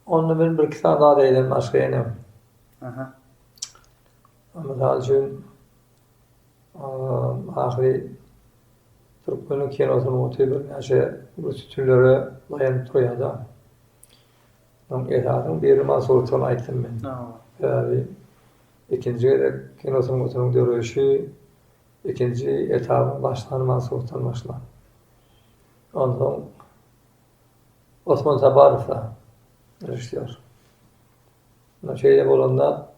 Onda men birki sany zat eýlän başga ýene. Aha. Mysal üçin Ahyry türkmeniň kino sungaty birnäçe uly sütünlere daýanyp durýar-da. Onuň esasynyň biri Mansurdygyny aýtdym men. Sebäbi ikinji gezek kino sungatynyň döreýşi ikinji etabyň başlany Mansurdan başlan. Onsoň Osman Saparowda režissýor. Şeýle bolanda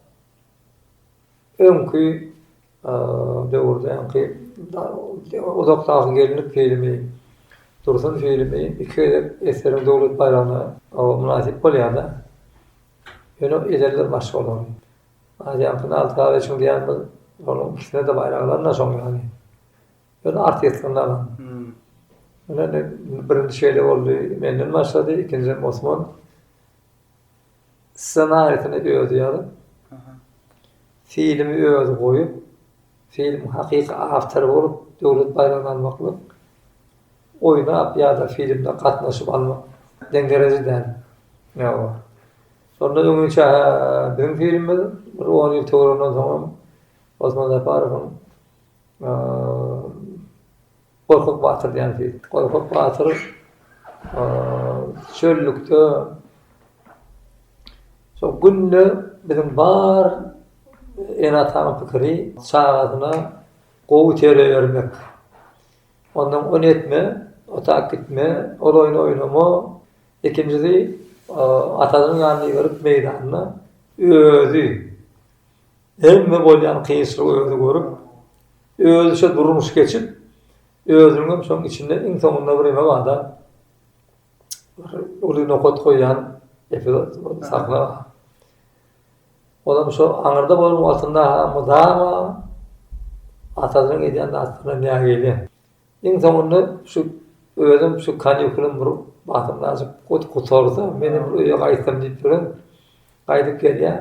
Öňki döwürde öňki uzak dagy gelinlik filmi, Dursun filmi iki gezek SSR-iň Döwlet baýragyna mynasyp bolýar-da. Ýöne ederler başga olary. Aziýanyňky Nail Karalyýewiçiň diýýän bir olaryň ikisine-de baýraklaryna şoň ýaly. Öz artistlerine alan. Ine indi birinji şeýle boldy, menden başlady, ikinjisem Osman. Ssenariýsini özi ýazyp, filmi özi goýup, filmiň hakyky awtory bolup, döwlet baýragyny almaklyk, oýnap ýa-da filmde gatnaşyp almak deň dereje däl. Ýa-ba. Şonda öňi çä biziň filmimiz bir on ýyl töwereginden soňam Osman Japarowyň Gorkut batyr diýen fil. Gorkut batyr çöllükde şol günde biziň bar ene-atanyň pikiri çagasyna gowy terbiýe bermek. Ondan ony etme, o tak gitme, ol oýny oýnama. Ikinjisi, atasynyň ýanyna iberip meýdanda özi Hemme bolýan kynçylygy özi görüp, özüçe durmuş geçip, özüniňem şoň içinde iň soňunda bir ýene bada bir uly nokat goýýan epizod bolup sahna. Olam şo aňyrda bolan wagtynda mydama atasynyň edýän zatlaryna nägile. Iň soňunda şu özüm şu kanikulam bir basymlajyk gutarsa, men hem bir öýe gaýtsam diýip ýörün. Gaýdyp gelýän.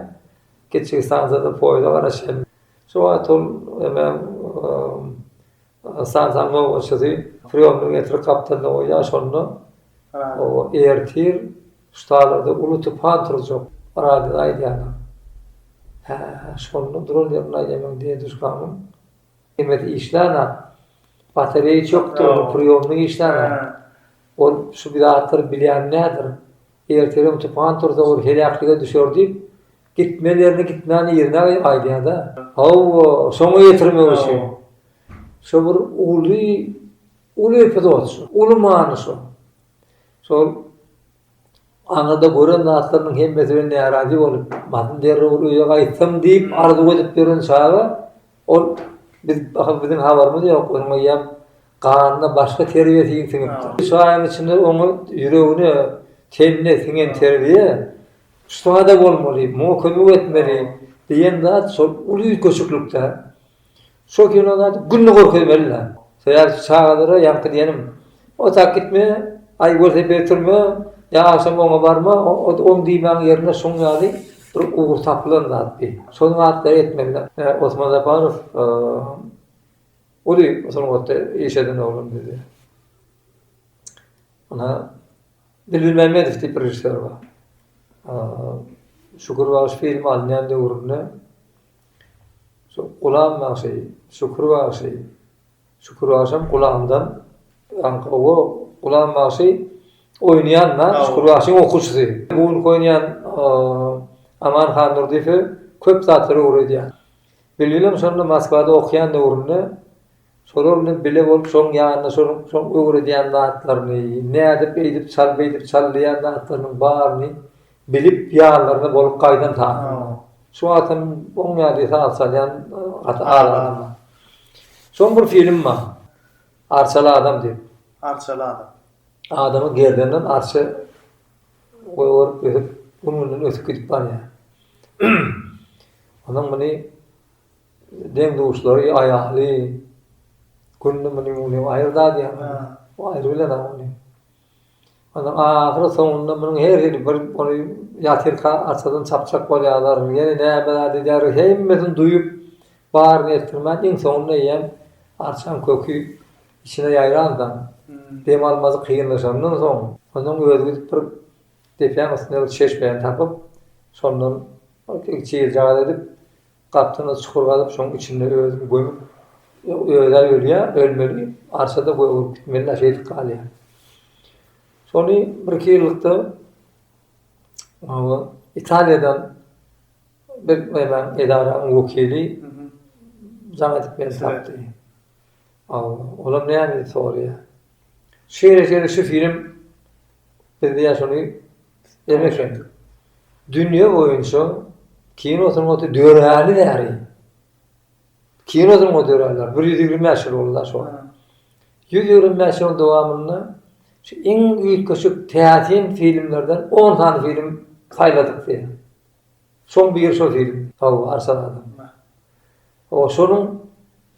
Geçjek stansiýada poýda garaşýan. Şu wagt ol emäň stansiýanyň nobatçysy priýomny getirip gapdalda goýýar, şonda ertir ştalarda uly tupan turjak, radioda aýdýarlar. Hä, şonda duran ýerinde aýdýar meň dede-duşkamyň. Hemesi işlana. Batareýa çökdi, ol priýomnik işlana. Ol şu bir zatlar bilýän nädir. Ertirem tupan tursa ol heläklige düşer diýip, gitmeli ýerine gitmän yzyna gaýdýar-da. Hawa, şoňa ýetirmek üçin. Şu bir uly, uly epizod şu. Uly many şu. Şol Aňyrda gören zatlarynyň hemmesinden närazy bolup, basym derrewül öýe gaýtsam diýip arzuw edip ýören çagy, ol biz, aha, biziň habarymyz ýok, onuň eýýäm ganyna başga terbiýe siňipdir. Üç aýyň içinde oňa ýüregine, tenine siňen terbiýe şusa-da bolmaly, muňa kömek etmeli diýen zat şol uly üýtgeşiklik-dä. Şol kino zady günde görkezmeli da. Sebäbi çagalara ýaňky diýenim, Otag gitme, aý welosiped sürme, ýa agşam oňa barma, oň diýmäň ýerine şuň ýaly bir ugur tapylan zat bi. Şol zatlary etmeli. Osman Žaparow uly sungatda iş eden oglan bizi. Ynha Bilbil Mämmedow diýip bir režissýor bar. Şükür bagşy filmi alynýan döwründe Şol Gulam bagşy, Şükür bagşy, Şükür bagşam Gulamdan ýaňky gowy Gulam bagşy oýnaýan-da, Şükür bagşyň okuwçysy. Muňk oýnaýan Aman Hannurdyýew köp zatlary öwredýär. Bilbilem şonda Moskwada okaýan döwründe Şolar bilen bile bolup şoň ýanyna şonuň şoň öwredýän zatlaryny, nädip eýdip çal beýdip çal diýýän zatlarynyň baryny bilip ýanlaryna bolup gaýdan sazanda. Şu wagtam oň ýaly saz çalýan gaty az adam bar. Şoň bir film bar. Arçaly adam diýip. Arçaly adam. Adamy gerdenden arça goýberyp ösüp gün-günden ösüp gidip barýar. Onuň muny Deň-duşlary aýahly, Günde munyň uly aýry zady ýok. Bu aýry bilen agly. Onuň ahyry-soňunda munyň her hili bir ony ýatyrka arçadan çapjak bolýarlar. Ýene näme zat edýärler, hemmesini duýup, baryny etdirmän, iň soňunda eýýäm arçaň köki içine ýaýransoň, dem almazy kynlaşandan soň, onuň özi gidip bir depäň üstünde bir çeşmeni tapyp, şondan çyl-çal edip, Gapdal çukur gazyp şoň içinde özüni gömüp özä ölýä ölmeli arşada gögerip gitmeli da şeýdip galýa. Şony bir iki ýyllykda Italiýadan bir nämäň edaranyň wekili jaň edip meni tapdy. Olam näme sorýa. Şeýle şeýle şu film biz diýä şony Emeşek. Dünýe boýunça kino sungaty döräli bäri, kino sungaty döräli bir ýüz ýigrimi bäş ýyl boldy-da şo. Ýüz ýigrimi bäş ýylyň dowamynda şu iň üýtgeşik täsin filmlerden on sany film saýladyk diýýär. Çuň bir şol film Hawa Arslan adamda. O şonuň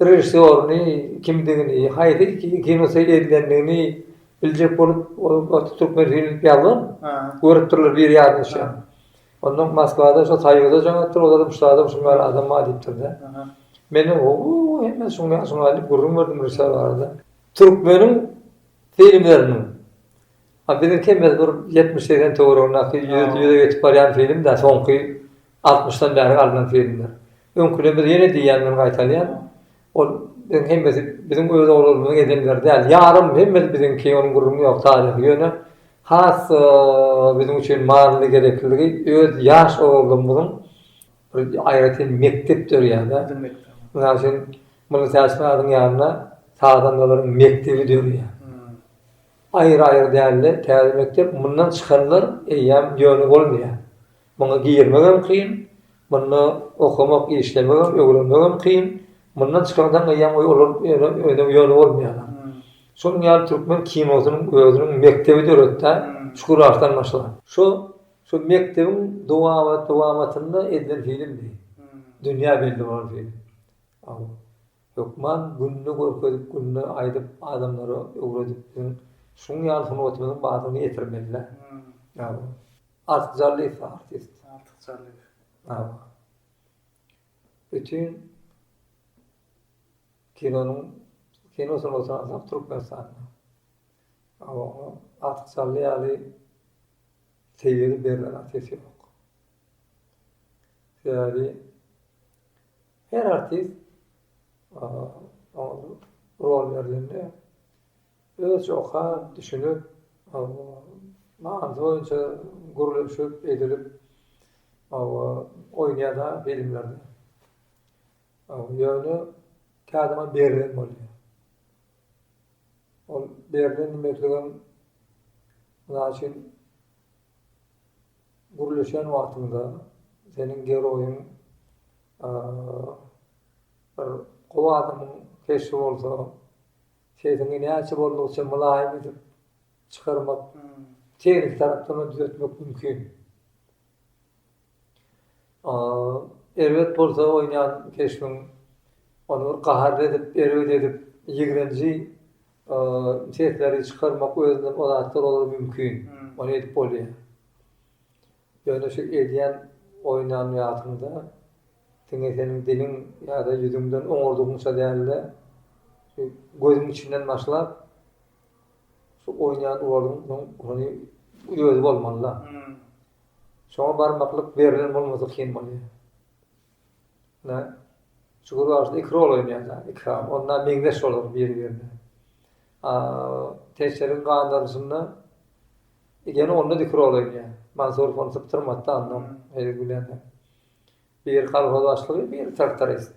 režissýoryny kimdigini, haýsy kino seýil edilendigini biljek bolup ol türkmen film diýip ýazgyn. Görüpdirler biri ýazyşa. Ondan Moskwada şo Soýuza joňapdyr olar şulardan şuň bar adam bar diýipdirde. Mende howwuu hemme şuň ýaly şuň ýaly gürrüň berdim režissýor barada. Türkmeniň filmleriniň A biziňki biz bir ýetmiş segsen töweregindäki ýüz ýüze geçip barýan filmdä soňky altmyşdan bäri galnan filmler. Öňküden biz ýene diýýän men gaýtalýan ol biziň hemmesi biziň öz oglanymyzyň edenleri däl ýarym hemmesi biziňki onuň gürrüňi ýok taryhy ýöne has biziň üçin manyly gerekliligi öz ýaş oglanymyzyň bir aýratyn mekdep dörýärde mysal üçin Mulla Täçmyradyň ýanynda sazandalaryň mekdebi dörýär. Aýry-aýry dälde, täze mekdep mundan çykanlar eýýäm ýöne bolmaýar. Muňa girmegem kyn, munda okamak, işlemegem, öwrenmegem kyn. Mundan çykandan eýýäm olar ýöne ýöne bolmaýarlar. Şonuň ýaly türkmen kinosynyň özüniň mekdebi döretdä, Çukur Arslan başlan. Şo, şo mekdebiň dowamat-dowamatynda edilen filmdi. Dünýä belli bolan film. Hökman günde görkezip günde aýdyp adamlara öwredip biziň şuň ýaly sungatymyzyň bardygyny ýetirmelidä. Artyk Jallyýew artist. Artyk Jallyýew. Hawa. Bütin kinonyň kino sungatyny alsak Türkmenistanda. Hawa oňa Artyk Jally ýaly tebigy berlen artist ýok. Sebäbi Her artist oňa rol berlende özçe okap, düşünip, manysy boýunça gürleşip, edilip oýnaýar-da filmlerde. Ýöne käte oňa berlen bolýar. Ol berlen diýmekligem, mysal üçin, Gürleşen wagtyňda seniň geroýyň bir gowy adamyň keşbi bolsa, sesiňi näçe boldugyça mylaýym edip çykarmak, tehniki tarapdan-da düzetmek mümkin. Erbet bolsa oýnaýan keşbiň ony bir gaharly edip, erbet edip, ýigrenji sesleri çykarmak özünden o zatlar olar mümkin. Ony edip bolýar. Ýöne şu edýän oýnan zatyňda diňe seniň diliň ýa-da ýüzüňden oňardygyňça däl-de, şu gözüň içinden başlap, şu oýnaýan rolyň ony özi bolmaly-da. Şoňa barmaklyk berlen bolmasa kyn bolýar. Ine, şu gürrüňde iki rol oýnaýarlar, iki hal. Onda meňzeş bolar biri-birine. A, Teşeriň gandaryşynda ýene onda iki rol oýnaýar. Mansur ony sypdyrmady-da andan, hezil bilen. Biri kolhoz başlygy, biri traktorist.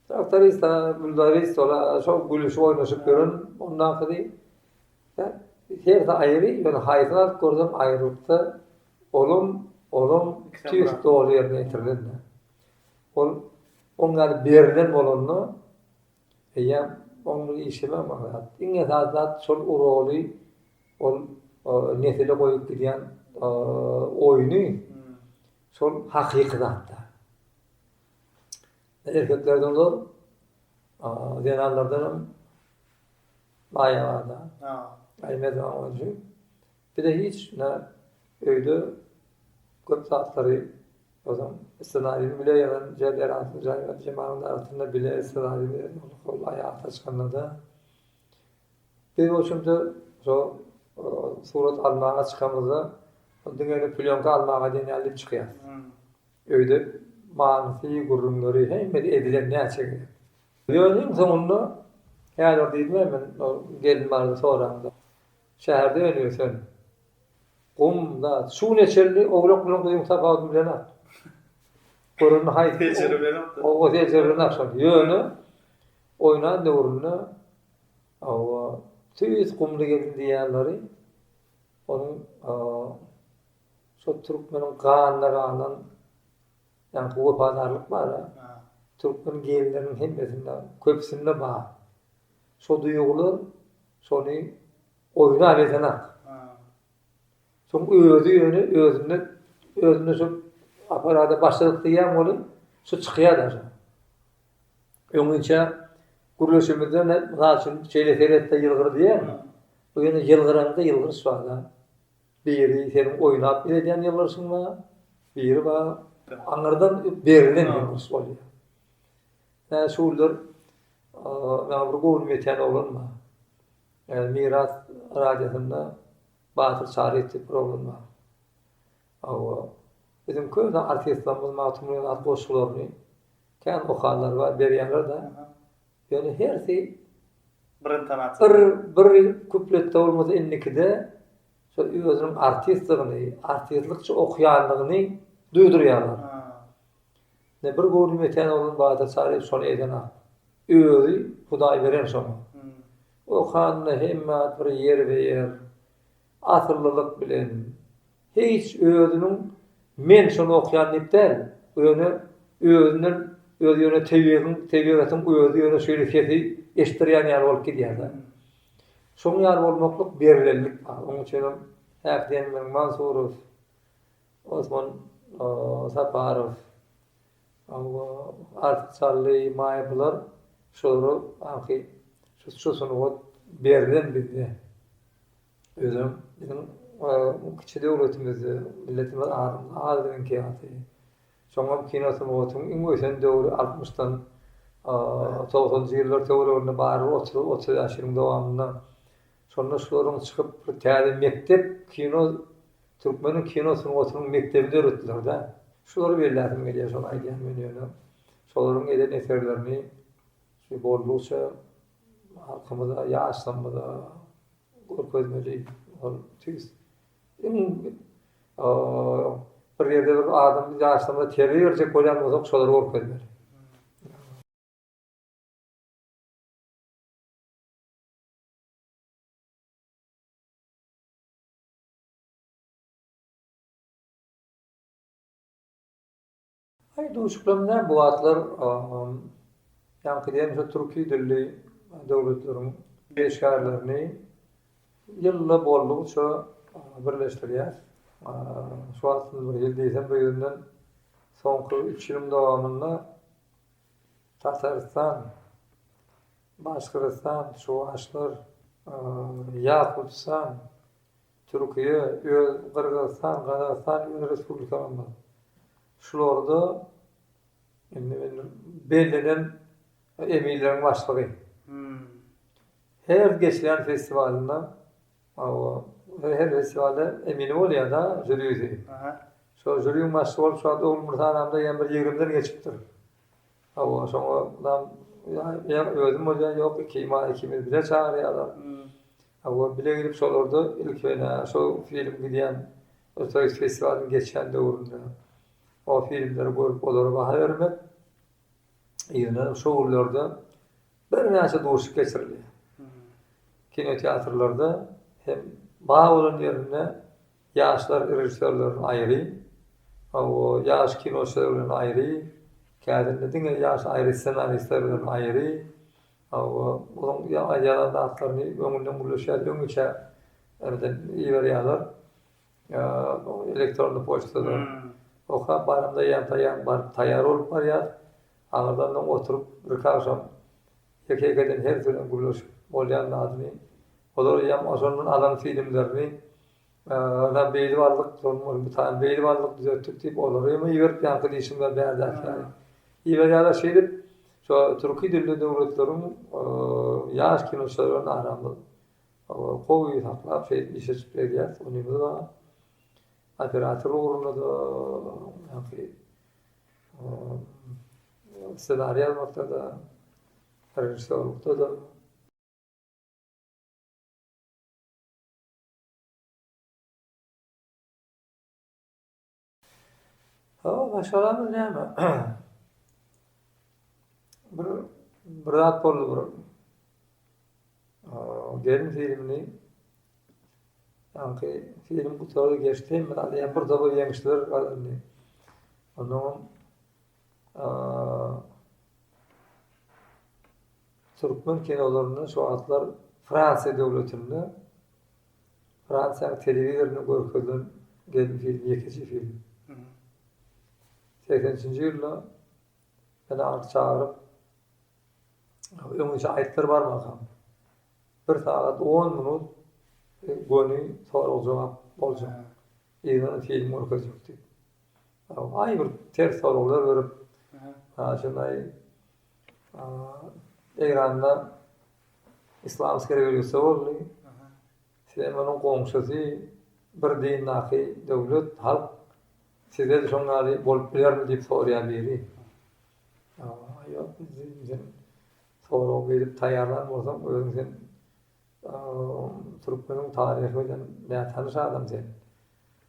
Traktorista Güldarys sola şol gülüşip oýnaşyp ýören ondakydy. Hersi aýry, ýöne haýsyny alyp görsem aýrylykda olam, olam tüýs doly ýerine ýetirilende. Ol oň ýaly berlen bolanda eýýäm oň bir işemä maňlaýar. Iň esasy zat şol uroly ol nesile goýup gidýän oýny şol hakyky zatda. Erkeklerden zor, zenanlardanam maýa bar-da. Aý Merdan Gonjy, bize hiç ne öýde köp zatlary ozan ssenariýany bile ýazan Jeberatyň jaýyna Jemalyň arasynda bile ssenariýany ýazmaly hol aýata çykanda-da. Biz bolşumyza şol surat almaga çykamyzda diňe plyonka almaga diýen ýaly diýip çykýarys. Öýde manysy, gürrüňleri hemmesi ezilen näçe gezek. Ýöne iň soňunda häzir diýdim-ä men ol gelin barada soraňda. Şäherde öni-ösen. Gum, zat. Şu gün eçelli owlak bilen guzyň tapawudyny bilenok. Görende haýsy. Seljerip bilenok-da. Hawa, seljerip bilenok şony. Ýöne oýnan döwründe, hawa, tüýs gumly gelin diýýänleri onuň Şol türkmeniň ganyna galan ýaňky wepadarlyk bar-a. Türkmen genleriniň hemmesinde, köpüsinde bar. Şo duýgular şony oýuna alypdynam. Şoň özi ýöne özünde, özünde şo aparada başladyk diýýän bolup, şo çykýar-da şo. Öňinçä gürleşimizde, mysal üçin, şeýle seret-de ýylgyr diýýärmi? Bu ýene ýylgyranda ýylgyryş bar-da. Biri seniň oýnap iledýän ýylgyryşyň bar, biri bar aňyrdan berilen ýylgyryş bolýar. Hä, şu günler maňa bir göwnüm ýetýän oglan bar. Miras radiosynda Batyr Çaryýew diýip bir oglan bar. Hawa, biziň köne artistlerimiz Magtymguly Pyragy goşgularyny kän okanlar bar, berýärler-de. Ýöne hersi bir intonasiýada. Bir bir kupletde bolmasa indikide şo özüniň artistdigini, artistlykça okýandygyny duýdurýarlar. Ine bir göwnüm ýeten bolan Badyr Çaryýew şony edenok. Özi Hudaý beren şoňa. Okanda hemme zat bir ýerbe-ýer, asyllylyk bilen, Hiç özüniň men şony okýan diýip däl, ýöne özünden özi ýöne tebigiň, tebigatyň özi ýöne şeýle sesi eşitdirýän ýaly bolup gidýär-de. Şoň ýaly bolmaklyk berlenlik bar. Oň üçin hem häk diýen meniň Mansurow, Osman Saparow, hawa, Artyk Çally, Maýa bular şulara, aňky şu sungat berlen bizde. Özem biziň kiçi döwletimizde milletimiz adamyz az biziň ýaly. Soňam kino sungatyň iň ösen döwri altmyşdan togsanjy ýyllar töwereginde barybir otuz otuz bäş ýylyň dowamynda. Şonda şularyň çykyp bir täze mekdep kino türkmeniň kino sungatynyň mekdebini döretdiler-dä. Şulary belläsim gelýär şony aýdýan men ýöne şolaryň eden eserlerini boldugyça Halkymyza, ýaşlarymyza görkezmeli ol tüýs. Iň bir ýerde bir adam biz ýaşlarymyza terbiýe berjek bolýan bolsak, şolary görkezmeli. Aý duşuklam nä bu atlar ýaňky diýen şu türki dilli döwletleriň işgärlerini ýylda boldugyça birleşdirýär. Şu wagt bir ýyl diýsem bu ýerinden soňky üç ýylyň dowamynda Tatarystan, Başgyrystan, Çuwaşlar, Ýakutistan, Türkiýe, öz, Gyrgyzystan, Gazagystan ýöne respublikalarymyz. Şularda indi men bellenen eminleriň başlygy. Her geçýän festiwalynda o her festiwalda emini bolýada, žurisi. Şo žuriň başlygy bolup şu wagt Ogulmyrat agamda ýa bir ýigrimden geçipdir. Hawa, şoňa ýa özüm bolýan ýok, ikimiz bile çagyrýarlar. Hawa, bile gidip şolarda ilki bilen-ä şo film gidýän Ötüriş festiwalynyň geçýän döwründe o filmleri görüp olara baha bermek, ýöne şo günlerde birnäçe duşuşyk geçirilýär. Kinoteatrlarda hem bar bolan ýerinde ýaşlar režissýorlaryň aýry, hawa, ýaş kinoçylar bilen aýry, kädinde diňe ýaş aýry ssenaristler bilen aýry, Hawa, onuň ýazan zatlaryny öňünden gürleşýär, öňüçä birden iberýärler. Elektronny poçtada okap barymda ýantaýan baryp taýýar bolup barýar. Aňyrdan öň oturyp birki agşam ýeke-ýekeden her sözen gürleşip bolýan zadyny, olar ýam oşondan alan filmlerini Agam beýli barlyk duran ol bir sany beýli barlyk düzetdik diýip olary ýa iberip ýaňky diýşimler bärdeak ýaly. Iberýärler şeýdip şo türki dilli döwletleriň ýaş kinoçylar bilen aramyz gowy saklap şeýdip iş açyp gelýäs. Onymiz bar. Operator ugrunda-da ýaňky ssenariý ýazmakda-da režissýorlykda-da. Hawa, maşgalamyz näme? Bir bir zat boldy bir. Gelin filmini Sanki film gutardy geçdi, men alýan bir doly ýeňişler galdy. Ondan Türkmen kinolarynda şu wagtlar Fransiýa döwletinde Fransiýanyň telewizorynda görkezilen gelin filmi ýekeje film. Segsen üçünji ýylda meni alyp çagyryp öňüçe aýtdylar barmakam. Bir sagat on minut göni sorag-jogap boljak. Ýene film görkezjek diýip. Aý bir ters soraglar berip şonday Eýranda islamski rewolýusiýa boldy. Sizem onuň goňşusy bir dindaky döwlet, halk sizde şoň ýaly bolup bilermi diýip soraýar biri. Ýok sen sorag berip taýýarlan bolsaň özüň sen türkmeniň taryhy bilen nätanyş adam sen.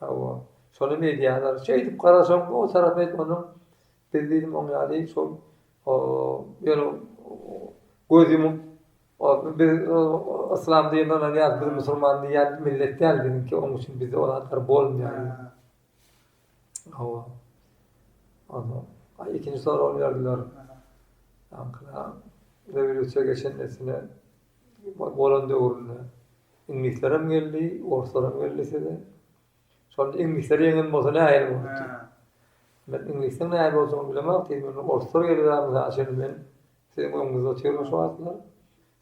Hawa, şonam edýärler. Şeýdip garasaň, o tarapy hem onuň biz diýdim oň ýaly şol ýöne göz ýumup biz yslam diýende ynanýarys, biz musulman diýýän millet däl biziňki, onuň üçin bizde ol zatlar bolmaýar. Hawa. Ondan aý ikinji sorag berdiler. Aňkala rewolýusiýa geçen nesine bolan döwründe iňlislerem geldi, orslarem geldi size. Şonda iňlisler ýeňen bolsa nähili bolupdy? Men iňlisleň nähili boljagyny bilemok, siz meni orslar gelip ämsa açan men siziň öňüňizde otyrmyş wagtlar.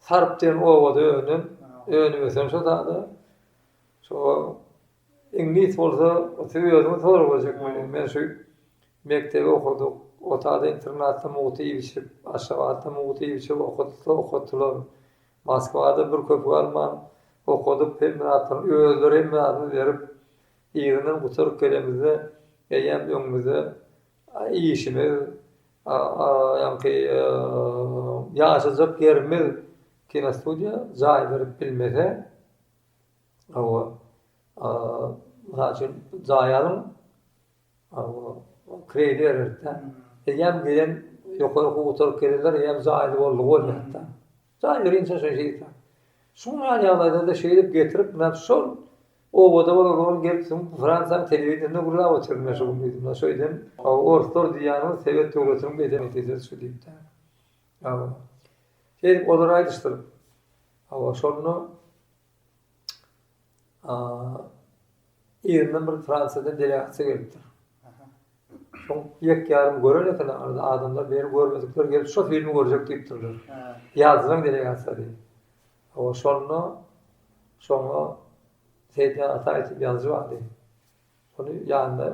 Sarp diýen obada önen, önüp ösen şo dada. Şo Iňlis bolsa, siz özüňiz sorag berjek meni. Men şu mekdebi okadyk, Otada internatda mugt iýip-içip, Aşgabatda mugt iýip-içip okatylsa okatdylar. Moskwada bir köpük alman okadyp, hemme zatlaryny özleri hemme zadyny berip, yzyndan gutaryp gelemizde, eýýäm öňümizde işimiz, ýaňky ýaşajak ýerimiz kinostudiýa jaý berip bilmese, Hawa, mysal üçin, jaý alyň, kredit bererdik-dä. Eýýäm gelen ýokary okuw gutaryp gelenler eýýäm jaýly boldy bolýar-da. Jaý berýin sen şoňa şeýdip. Şunuň ýaly ýagdaýlarda şeýdip getirip, men şol obada bolan oglan gelip soň Fransiýanyň telewideniýesinde gürläp otyr, men şo gün şeýdem. Orslar diýýäniňiz sowet döwletiniň bedenekedir şu diýip-de. Hawa. Şeýdip olar aýdyşdyr. Hawa, şonda Yzyndan bir Fransiýadan delegatsiýa gelipdir. Şoň ýek-ýarym gören eken arada adamlar beri görmedikler gelip şo filmi görjek diýipdirler. Ýazylan delegatsiýady. Owa şonda şoňa Seýitjan Ataýew diýip ýazyjy bardy. Ony ýanyna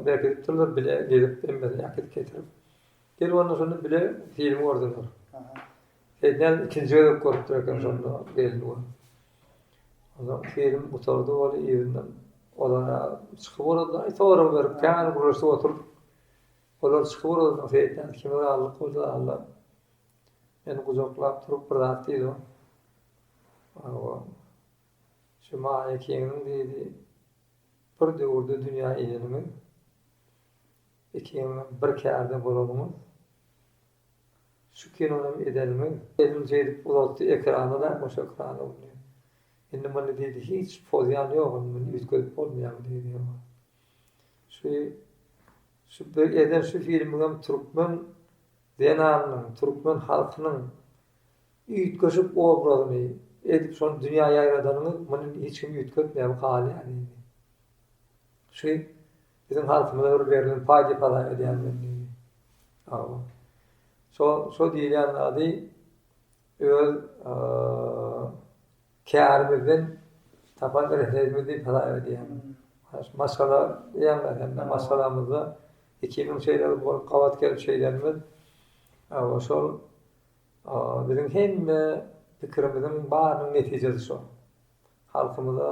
bergizip durlar, bile gezip hemmesini äkidip getirip. Gelip onda şonda bile film gördüler. Seýdinälim ikinji gezek görüpdir eken şonda geldi ol. Ondan film gutardy ol ýerinden. Olara çykyp orada sorag berip kän gürleşip oturyp. Olar çykyp orada seýdinälim kim razylyk bolsa Allah. Meni gujaklap turup bir zat diýdi o. Awa. Şu Maýa Kingniň dyzy Bir döwürde dünýä ineniňiz. Ikiňizem bir kärde bolanyňyz. Şu kinonam edeniňiz. Elini şeýdip uzatdy ekrana da boş ekrana indi. Indi muny diýdi hiç pozýan ýok indi muny üýtgedip bolmaýar diýdi ýoga. Şu şu bir eden şu filmiňem türkmen zenanynyň türkmen halkynyň Üýtgeşik obrazyny edip şony dünýä ýaýradanyňyz, muny hiç kim üýtgetmeýär halýan indi. Şu biziň halkymyza bir berlen paý diýip hasap edýän men indi. Hawa. Şo, şo diýilýän zady öz kärimizden tapan rehedimiz diýip hasap edýän. Maşgala diýýänler hem-de maşgalamyzda iki müň şeýle bolup gabat gelip şeýlenimiz. Hawa, şol Biziň hemme pikirimiziň barynyň netijesi şo. Halkymyza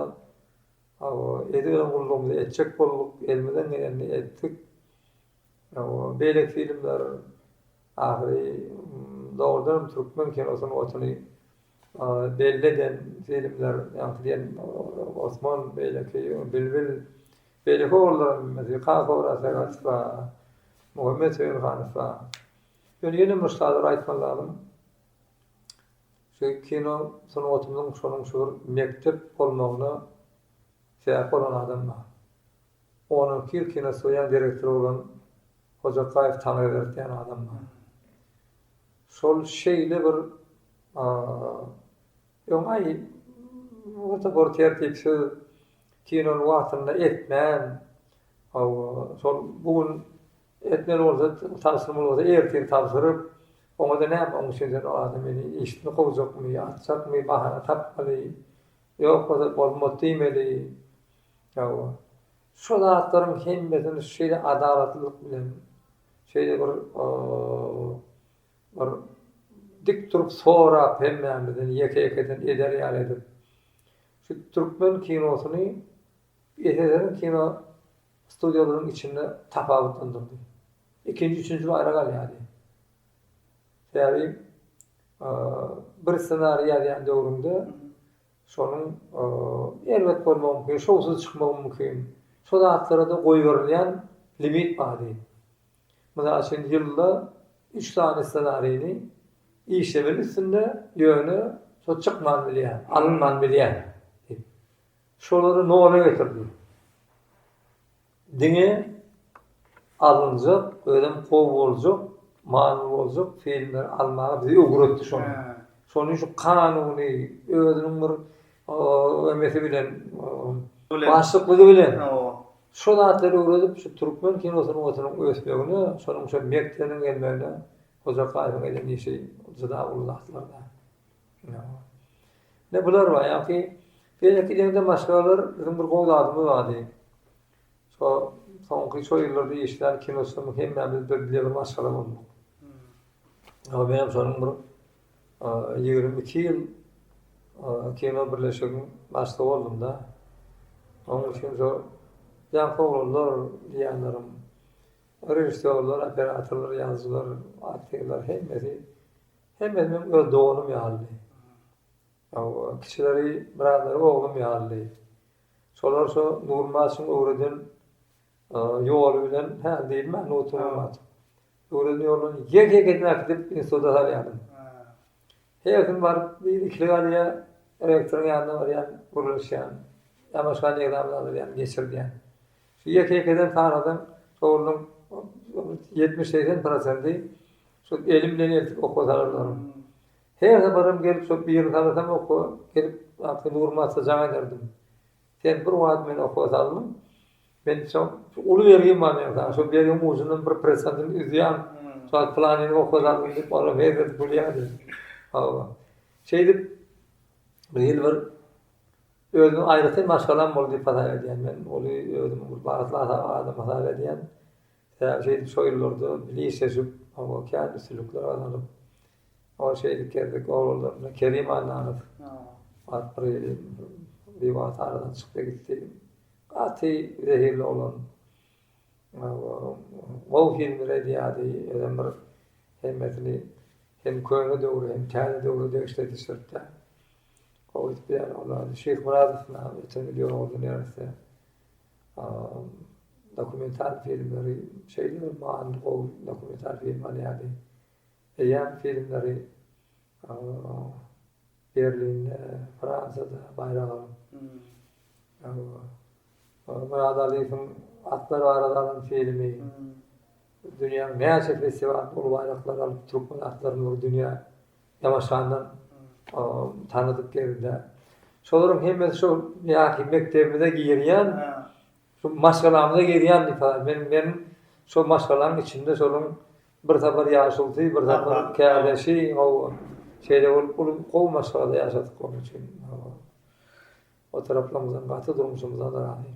edip ýören gullugymyzy etjek bolduk, elimizden gelenini etdik. Beýleki filmler ahyry dogrudan hem türkmen kinosynyň otuny belli eden filmler, ýaňky diýen Osman, beýleki Bilbil, beýleki ogrullaram, Kaka Oraz Sagadow, Muhammet Söýünhanow. Ýöne ýene bir şadyr aýtman lazym, şu kino sungatymyzyň şonuň şu bir mekdep bolmagyna sebäp bolan adam bar. On alty ýyl kinostudiýanyň direktory bolan Hojakaýew Taňryberdi diýen adam bar. Şol şeýle bir oňaý bir tertipsiz kinony wagtynda etmän, hawa, şol bu gün Etmeli bolsa, tabşyrmaly bolsa ertir tabşyryp, oňa-da näme, oň üçin-de adam meni işden kowjakmy, atjakmy, bahana tapmaly. Ýok bolsa, bolmady diýmeli. Hawa. Şu zatlaryň hemmesini şeýle adalatlylyk bilen, şeýle bir bir dik durup sorap hemmämizden ýeke-ýekeden eder ýaly edip, şu türkmen kinosyny Eserlerini kino studiýalaryň içinde tapawutlandyrdy. Ikinji, üçünji ýyl ara galýardy. Sebäbi bir ssenariý ýazýan döwrüňde şonuň erbet bolmagy mümkin, şowsuz çykmagy mümkin. Şo zatlara-da goýberilýän limit bardy. Mysal üçin, ýylda üç sany ssenarini işlemeli üstünde, ýöne şo çykman bilýär, alynman bilýär. Şolary nola getirdim. Diňe alynjak, özem gowy boljak, manyly boljak filmleri almaga bizi öwretdi şonuň. Şonuň üçin kanuny, özüniň bir emesi bilen, başlyklygy bilen şu zatlary öwredip, şu türkmen kino sungatynyň ösmegine, şonuň üçin Mekdeniň gelmegine Hojakaýewiň eden işi juda uly zatlar. Ine, bular bar. Ýagny, beýleki deňize maşgalalar biziň bir gowy zadymyz bardy. Şo soňky şo ýyllarda işlän kinosymyz hemmämiz bir bile bir maşgala bolduk. Ýa menem şonuň bir ýigrimi iki ýyl kino birleşigiň başlygy boldum-da. Onuň üçin şo ýaňky oglanlar diýýänlerim, režissýorlar, operatorlar, ýazyjylar, aktýorlar hemmesi Hemmesi meniň öz doganym ýalydy. Hawa, kiçileri, birazlary oglum ýalydy. Şolar şu Nurmaçyň öwreden ýoly bilen, hä, diýilmä, Nurtulmaç. Öwreden ýolundan ýek-ýek edip äkidip instituta salýardym. Her gün baryp, biri-ikili galýar, rektoryň ýanyna barýan, gürleşýän. Ýa başga nirä barýan, geçirýän. Şu ýeke ýekeden sanasaň sowluň ýetmiş segsen prosenti şol elim bilen eltip okga salar olaryň. Her saparam gelip şol birini salasam okga gelip wagty Nuryma atsa jaň ederdim. Sen bir wagt meni okga saldyň. Men şo uly bergim bar meň saňa şo bergiň ujundan bir prosentini üzýän şo planini okga saldyň diýip olam hezil gülýärdi. Hawa. Şeýdip bir ýyl bir Özümiň aýratyn maşgalam boldy diýip hasap edýän men. Ony özümiň bir bagtly adam hasap edýän. Sebäbi şeýdip şo ýyllarda bilişeşip, oňa kän üstünlikler gazanyp, ol şeýdip gezek oglanlaryndan Kerim Annanow bar bir ýeri biwagt aradan çykdy gitdi. Gaty zehirli oglan. Gowy filmler edýärdi. Özem bir hemmesini hem köne döwre hem täze döwre degişli edişiripdi. Gowy edip beýan olary. Şeýhmyradow näme öten ýyl ýoruldy neresse. Dokumental filmleri şeýle bir manyly gowy dokumental film alýardy. Eýýäm filmleri Berlinde, Fransada baýrak alyp. Murad Aliýewiň Atlar barada alan filmi dünýäniň näçe festiwalynda uly baýraklary alyp, türkmen atlaryny dünýä Ýaňaşandan tanadyk geldi-de. Şolaryň hemmesi şo ýaňky mekdebimize girýän, şo maşgalamyza girýän diýip, men, men şo maşgalaň içinde şolaryň bir sapar ýaşulysy, bir sapar käleşi, hawa, şeýle bolup uly gowy maşgalada ýaşadyk onuň üçin. Hawa. O taraplarymyzdan gaty durmuşymyzdan razym.